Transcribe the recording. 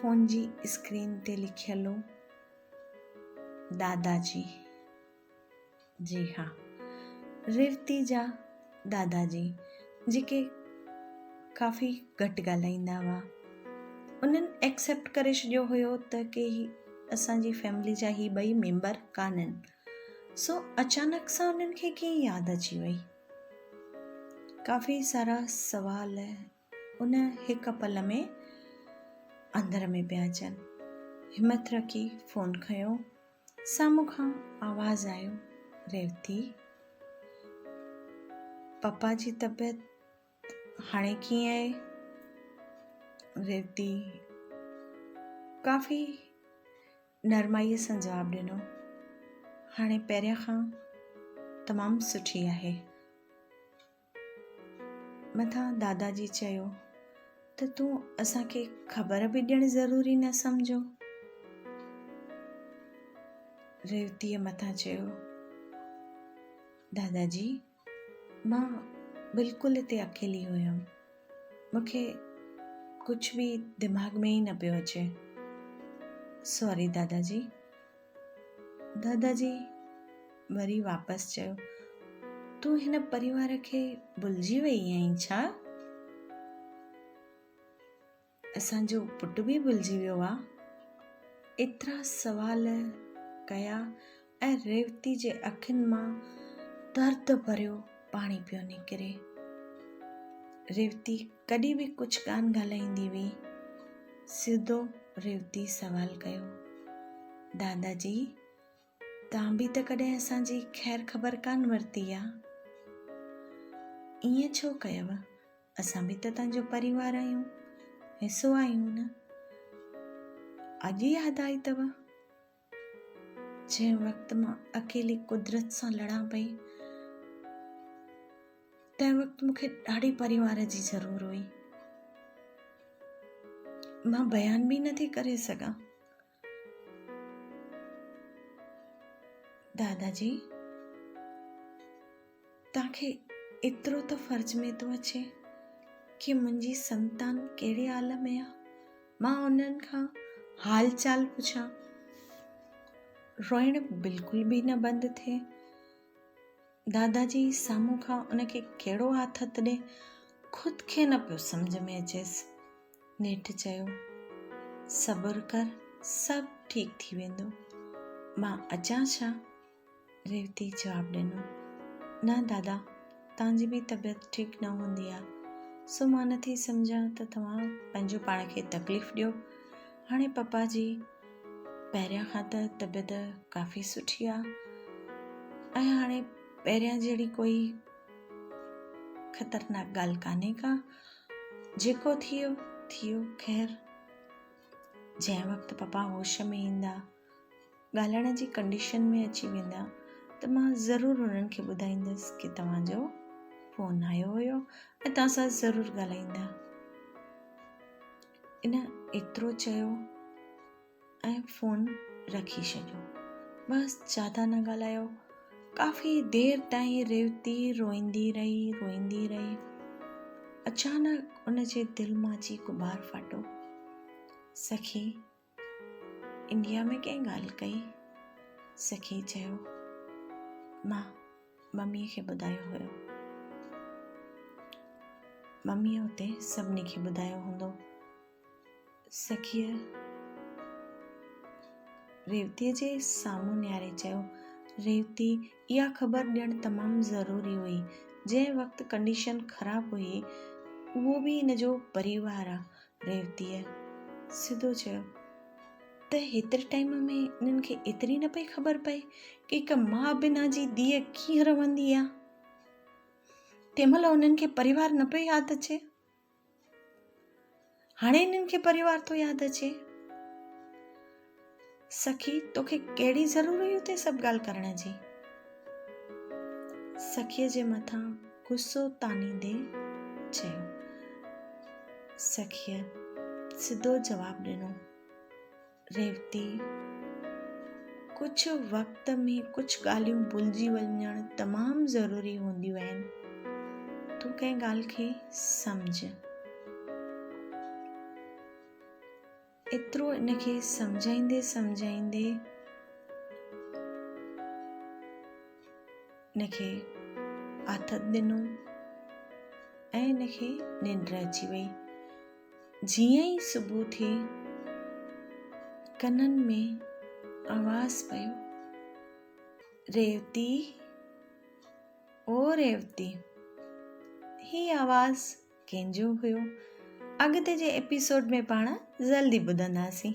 Phone جي screen تي لکيل هو دادا جي جي ها ريوتي جا دادا جي جيڪي ڪافي گهٽ ڳالهائيندا هئا انهن ايڪسپٽ ڪري ڇڏيو هيو ته ڪي اسان جي فيملي جا هي ٻئي ميمبر ڪانن سو اچانڪ سان انهن کي ڪيئن ياد اچي وئي ڪافي سارا سوال ان هڪ پل ۾ اندر ۾ پيا اچن. همت رکي فون کنيو. سامهون کان آواز آيو، ريوتي! پپا جي طبيعت هاڻي ڪيئن آهي؟ ريوتي ڪافي نرمائيء سان جواب ڏنو، هاڻي پهريان کان تمام سٺي آهي. مٿان دادا جي چيو ته تون اسان کي خبر به ڏيڻ ضروري نه سمجهو. ريوتيء مٿان چيو، دادا جي مان بلڪل اتي اڪيلي هيم، مون کي ڪجهه به دماغ ۾ ئي نه پيو اچي. ساري دادا جي، دادا جي وري واپس چيو تون هن پريوار کي بلجي وئي آهين ڇا اسان جو پٽ به بلجي ويو آ ايترا سوال ڪيا ۽ ريوتي جي اکين مان درد ڀريو پاڻي پيو نڪري. ريوتي ڪڏهن به ڪجهه ڪانه ڳالهائيندي هئي. سڌو ريوتي سوال ڪيو، دادا جي توهان به ته ڪڏهن اسان جي خير خبر ڪانه ورتي آ. ائين ڇو ڪيو؟ اسان به ته تنهنجو پريوار آهيون، حصو آهيون نه. اڄ ياد آئي اٿو؟ جنهن وقت مان اڪيلي قدرت سان لڙان پئي تنهن وقت مون کي ڏاڍي پريوار جي ضرور هئي مان بيان به نٿي ڪري سگھان دادا جي توهان کي ايترو ته فرض ۾ ٿو اچي ڪي منهنجي سنتان ڪهڙي حال ۾ آ مان انهن کان حال چال پڇان روئڻ بلڪل به نه بند ٿئي دادا جي سامهون کان ان کي ڪهڙو آٿت ڏي خود کي نه پيو سمجھ ۾ اچيس نيٺ چيو صبر ڪر سڀ ٺيڪ ٿي ويندو مان اچان ڇا ريوتي جواب ڏنو، نه دادا، توهان جي به طبيعت ٺيڪ نه هوندي آهي، سو مان نه ٿي سمجهان ته توهان پنهنجو پاڻ کي تڪليف ڏيو. هاڻي پپا جي پهريان کان ته طبيعت ڪافي سٺي آهي ۽ هاڻي پهريان جهڙي ڪوئي خطرناڪ ڳالهه ڪانهي ڪا، جيڪو ٿيو ٿيو خير، جنهن وقت پپا هوش ۾ ايندا، ڳالهائڻ جي ڪنڊيشن ۾ اچي ويندا ته مان ضرور انهن کي ٻڌائيندس ڪي توهان جو فون آيو هيو ۽ توهان سان ضرور ڳالهائيندا ان ايترو چيو ۽ فون رکي ڇڏيو بس زياده نه ڳالهايو ڪافي دير تائين ريوتي روئيندي رهي روئيندي رهي اچانڪ ان جي دل مان جي غبار ڦاٽو سخي انڊيا ۾ ڪنهن ڳالهه ڪئي؟ سخي چيو، مان مميء کي ٻڌايو هيو. مميء اتي سڀني کي ٻڌايو هوندو. سخيء ريوتيء جي سامهون نهاري چيو، ريوتي اها خبر ڏيڻ تمام ضروري هئي. جنهن وقت ڪنڊيشن خراب هئي، اهو به هن جو پريوار آ. ريوتيء سڌو چيو ته هيتري ٽائيم ۾ انهن کي ايتري نه پئي خبر پئي ڪه هڪ ماء بنا جي ڌيء ڪيئن رهندي آ. تنهن مهل انهن کي پريوار نه پيو ياد اچي. هاڻي انهن کي پريوار ٿو ياد اچي. سخي، توکي ڪهڙي ضرور هئي اتي سڀ ڳالهه ڪرڻ جي؟ سخيء جي مٿان غصو تانيندي چيو. سخيء سڌو جواب ڏنو. ريوتي، ڪجهه وقت ۾ ڪجهه ڳالهيون ڀلجي وڃڻ تمام ضروري هونديون آهن. تون ڪنهن ڳالهه کي سمجهه. ايترو ان کي سمجهائيندي سمجهائيندي ان کي آٿت ڏنو ۽ ان کي ننڊ اچي وئي جيئن ئي صبح ٿي ڪنن ۾ آواز پيو ريوتي او ريوتي هي آواز ڪنهن جو هيو اڳتي جي ايپيسوڊ ۾ پاڻ جلدي ٻڌنداسين